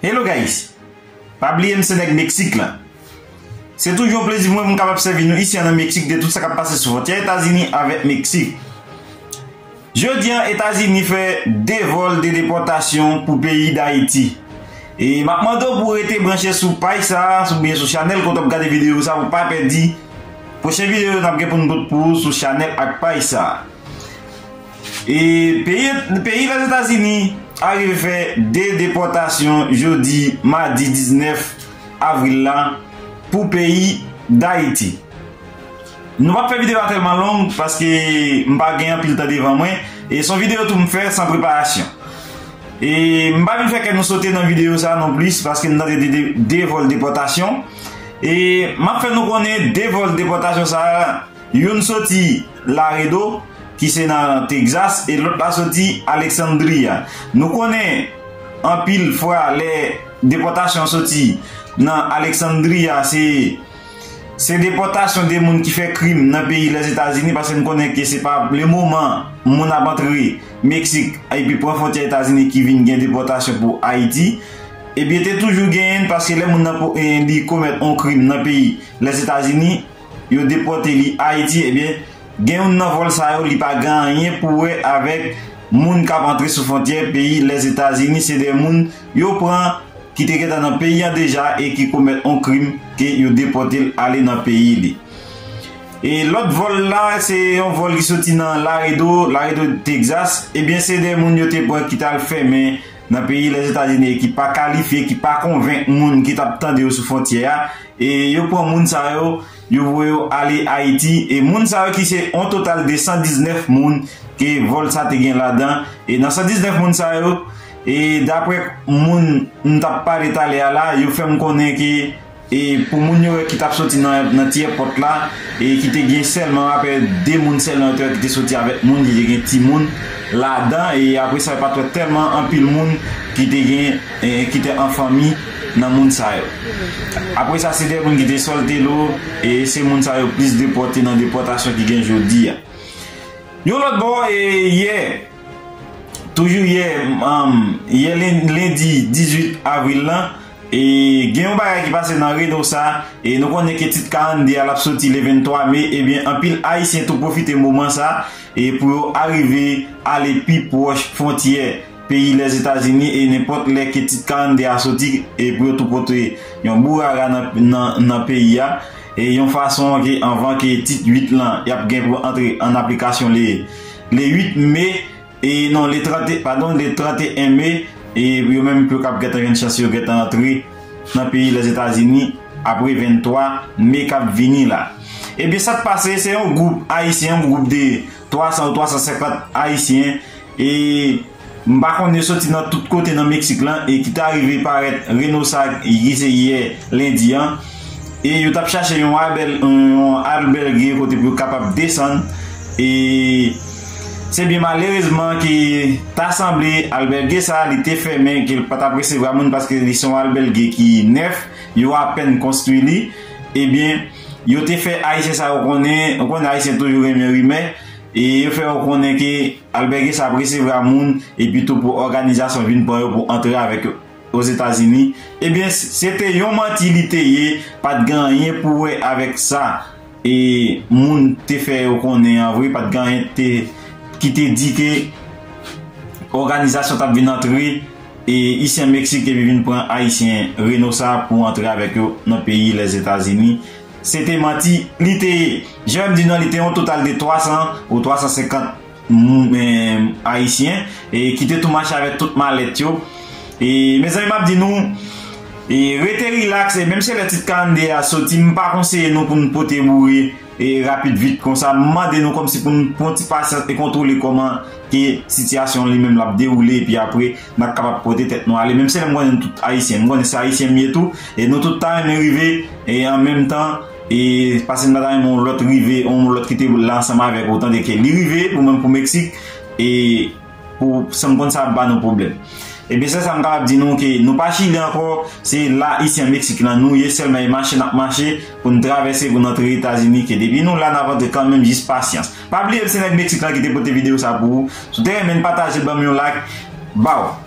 Hello guys! Pa bliye m se nèg Meksik la. Se toujou yon plezi pou mwen pou m kapab sèvi nou isi an nan Meksik de tout sa k ap pase sou fontyè Etazini avèk Meksik. Jodi an Etazini fè 2 vòl de depòtasyon pou peyi Dayiti. E m ap mande w pou w rete branche sou paj sa a oubyen sou chanèl kote w ap gade videyo sa a pou w pa pèdi pwochen videyo n ap gen pou nou pot pou ou sou chanèl ak paj sa a. E peyi Lèzetazini arive fè 2 depòtasyon jodi madi 19 avril la pou peyi Dayiti. Nou pap fè videyo a tèlman long paske m pa gen anpil tan devan mwen e son videyo tou m fè san preparasyon. E m pa vin fè kè nou sote nan videyo sa non plis paske m tande de 2 vòl depòtasyon e map fè nou konnen 2 vòl depòtasyon sa Youn soti Laredo, ki se nan Tegzas, e lòt la soti Alexandria. Nou konnen, anpil fwa, lè depòtasyon an soti nan Alexandria, se, se depòtasyon de moun ki fè krim nan peyi Lèzetazini, paske n konnen ke se pa le moman moun ap antre Meksik epi pran fwontyè Etazini ki vin gen depòtasyon pou Ayiti. Ebyen, te toujou genyen, paske lè moun nan, li komèt on krim nan peyi Lèzetazini, yo depote li Ayiti ebyen gen youn nan vòl sa yo li pa gen anyen pou wè avèk moun kap antre sou fontyè peyi Lèzetazini se de moun yo pran ki te gentan nan peyi an deja e ki komèt on krim ke yo depote l ale nan peyi li. E lòt vòl la se yon vòl ki soti nan Laredo, Laredo Texas ebyen se de moun yo te pran ki tal fèmen Nan peyi Lèzetazini ki pa kalifye, ki pa konvenk moun ki t ap tande yo sou fwontyè a, e yo pran moun sa yo, yo voye yo ale Ayiti, e moun sa yo ki se yon total de 119 moun ke vòl sa te gen ladan, e nan 119 moun sa yo, e daprè moun m t ap pale talè a la, yo fè m konnen ke. E pou moun yo ki tap soti nan ti èpòt la e ki te gen sèlman apè 2 moun sèlman yo te wè ki te soti avèk moun ki te gen timoun ladan e apre sa yo pat wè tèlman anpil moun ki te gen ki te an fanmi nan moun sa yo. Apre sa se 2 moun ki te sòlte lo e se moun sa yo plis depòte nan depòtasyon ki gen jodi a. Yon lòt bò e yè toujou yè yè lendi 18 avril lan E gen yon bagay ki pase nan Reno sa, e nou konnen ke tit 42 a l ap soti le 23 me, ebyen anpil Ayisyen tou pwofite moman sa e pou yo arive ale pi pwòch fwontyè peyi Lèzetazini e nenpòt lè ke tit 42 a soti e pou yo tou pote yon bourara nan peyi a e yon fason ke anvan ke tit 8 lan y ap gen pou antre an aplikasyon le 8 me. E non le 31, padon le 31 me, e pou yo menm pou yo kab gentan jwenn chans yo gentan antre nan peyi Lèzetazini apre 23 me kap vini la. Ebyen sak pase se yon gwoup ayisyen, yon gwoup de 300 ou 350 ayisyen e m pa konnen yo soti nan tout kote nan Meksik lan e ki ta rive parèt Renosa ki se yè lendi an. E yo t ap chache yon albège kote pou yo kapab desann. E se byen malerezman ke ta sanble albège sa a li te fèmen, ke l pa t ap resevwa moun paske li se yon albège ki nèf, yo apèn konstwi li. E byen, yo te fè Ayisyen sa yo konnen, ou konnen Ayisyen toujou renmen rimè, e yo fè yo konnen ke albège sa ap resevwa moun, epitou pou òganizasyon vin pran yo pou antre avèk yo. Ozetazini, ebyen se te yon manti li te ye, pa t gen anyen pou wè avèk sa e moun te fè yo konnen an vre, pa t gen anyen te ki te di ke òganizasyon t ap vin antre e isyen Meksik te vin pran ayisyen Reno sa pou antre avèk yo nan peyi Lèzetazini, se te manti li te ye. Jan m di nou an li te yon total de 300 ou 350. Ayisyen ki te tou mache avèk tout malèt yo e mezanmi map di nou rete relax e menm se lè tit 42 a soti m pa konseye nou pou nou pote boure e rapid vit konsa m mande nou kòmsi pou nou pran ti pasyans e kontwole kòman ke sitiyasyon li menm lap dewoule epi apre nap kapab pote tèt nou ale menm se lè m konnen nou tout ayisyen m konnen se ayisyen m ye tou e nou tout ta renmen rive e an menm tan E pase m pata renmen yon lòt rive yon lòt ki te la ansanm avèk ou tande ke li rive pou mwen pou Meksik e pou san m konn sa ap ba nou pwoblèm. Ebyen sèl sa m kapab di nou ke nou pa chili ankò se la isi an Meksik lan nou ye sèlman e mache n ap mache pou n travèse pou n antre Etazini ke depi nou la n ap antre kanmenm jis pasyans. Pa bliye m se nèg Meksik lan ki te pote videyo sa pou ou. Si w te renmen pataje banm yon like. Baww.